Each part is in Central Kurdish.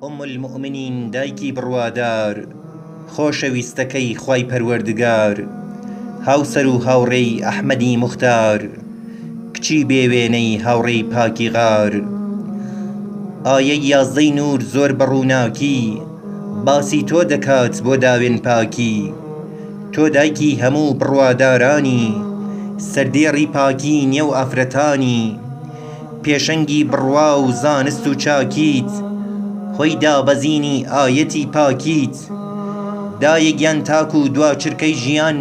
ئوم المومنین دایکی بڕوادار خۆشەویستەکەی خوای پەروەردگار هاوسەر و هاوڕێی ئەحمەدی موختار کچی بێ وێنەی هاوڕێی پاکی غار ئایەی یازدەی نوور زۆر بە ڕووناکی باسی تۆ دەکات بۆ داوێن پاکی تۆ دایکی هەموو بڕوادارانی سەردێڕی پاکی نێو ئافرەتانی پێشەنگی بڕوا و زانست و چاکیت هۆی دابەزینی ئایەتی پاکیت دایە گیان تاکوو دوا چرکەی ژیان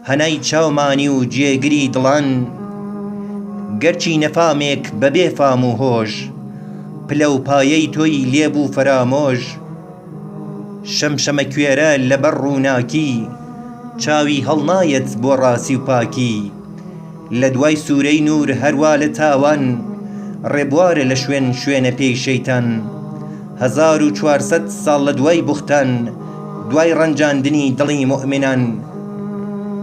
هەنای چاومانی و جێگری دڵان گەرچی نەفامێک بە بێ فام و هۆش پلە و پایەی تۆی لێ بوو فەرامۆش شەمشەمەکوێرە لەبەر ڕووناکی چاوی هەڵنایەت بۆ ڕاستی و پاکی لە دوای سوورەی نوور هەروا لە تاوان ڕێبوارە لە شوێن شوێنە پێی شەیتان هەزار و چوار سەد ساڵ لە دوای بوختان دوای ڕەنجاندنی دڵی موئمنان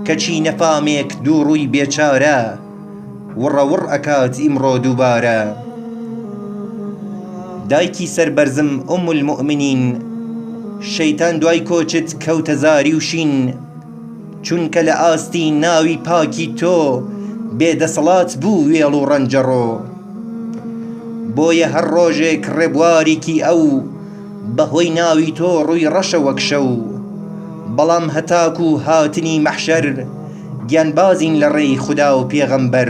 کەچی نەفامێک دوو ڕووی بێچارە وڕە وڕ ئەکات ئیمڕۆ دووبارە دایکی سەربەرزم ئوم الموئمنین شەیتان دوای کۆچت کەوتە زاری و شین چونکە لە ئاستی ناوی پاکی تۆ بێ دەسەڵات بوو وێڵ و ڕەنجەڕۆ بۆیە هەر ڕۆژێک ڕێبوارێکی ئەو بە هۆی ناوی تۆ ڕووی ڕەشە وەک شەو بەڵام هەتاکوو هاتنی مەحشەر گیانبازین لە ڕێی خودا و پێغەمبەر